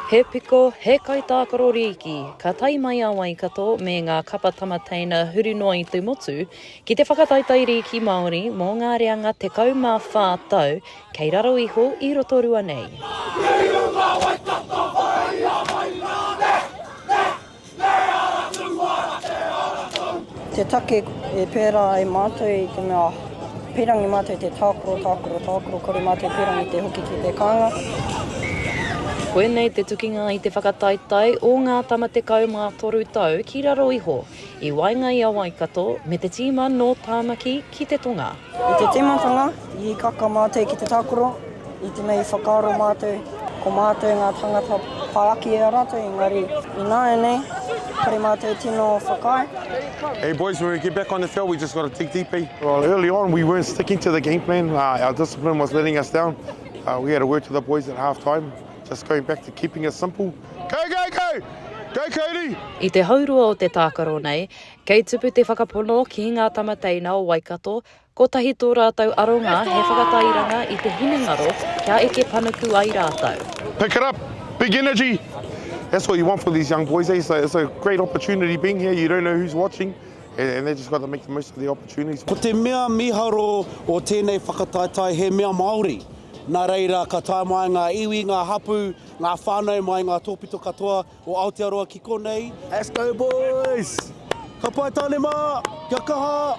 He piko, he kaitākaro rīki, ka tae mai a Waikato me ngā kapa tamateina huri noa i te motu, Ki te whakataetae rīki Māori mō ngā reanga 14 tau kei raro iho i Rotorua nei. Te take e pērā ai mātou i te mea pīrangi mātou te tākaro, tākaro, tākaro, kore mātou pīrangi te hoki ki te kānga. Koinei te tukinga i te whakataetae o ngā tama 13 tau ki raro iho. I waenga i a Waikato me te tīma nō Tāmaki ki te tonga. I te tīmatanga, i hīkaka mātou ki te tākaro, i te mea i whakaaro mātou, ko mātou ngā tāngata whāki e a rātou, engari ināianei, kore mātou tino whakaae. Hey boys, when we get back on the field, we just got to dig deeper. Well, early on, we weren't sticking to the game plan. Uh, our discipline was letting us down. Uh, we had a word to the boys at half time, just going back to keeping it simple. Kau, kau, kau! Kau, kauri! I te haurua o te tākaro nei, kei tupu te whakapono ki ngā tama teina o Waikato, kotahi tō rātou aronga he whakatairanga i te hinengaro kia eke panuku ai rātou. Pick it up! Big energy! That's what you want for these young boys, eh? So it's a great opportunity being here, you don't know who's watching and they just got to make the most of the opportunities. Ko te mea miharo o tēnei whakataetae he mea Māori, nā reira ka tae mai ngā iwi, ngā hapū, Ngā whānau mai ngā tōpito katoa o Aotearoa ki konei. Let's go boys! Ka pai tāne mā! Kia kaha!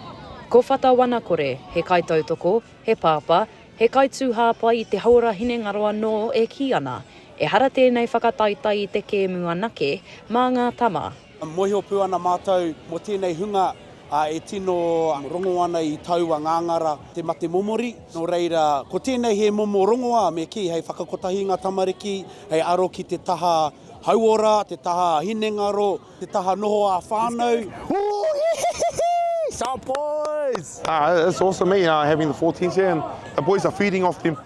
Ko Whata Wanakore, he kaitautoko, he pāpā, he kaitūhāpai i te hauora hinengaro anō e kī ana, ehara tēnei whakataetae i te kēmu anake mā ngā tama. Mōhio pū ana mātou mō tēnei hunga e tino rongo ana i taua ngāngara te mate momori. Nō reira, ko tēnei he momo rongoā me kī hei whakakotahi ngā tamariki hei aro ki te taha hauora, te taha hinengaro, te taha noho ā-whānau. Sharp boys! It's awesome, eh? Having the 14s here and the boys are feeding off them.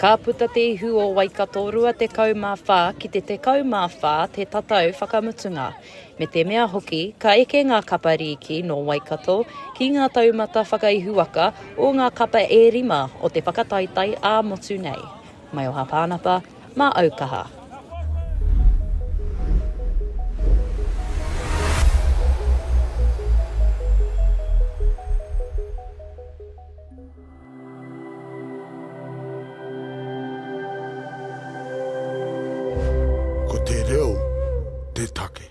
Ka puta te ihu o Waikato 24 ki te 14 te tatau whakamutunga. Me te mea hoki, ka eke ngā kapa rīki nō Waikato ki ngā taumata whakaihuwaka o ngā kapa e rima o te whakataetae ā-motu nei. Maioha Pānapa, mā Aukaha. Ko te reo te take.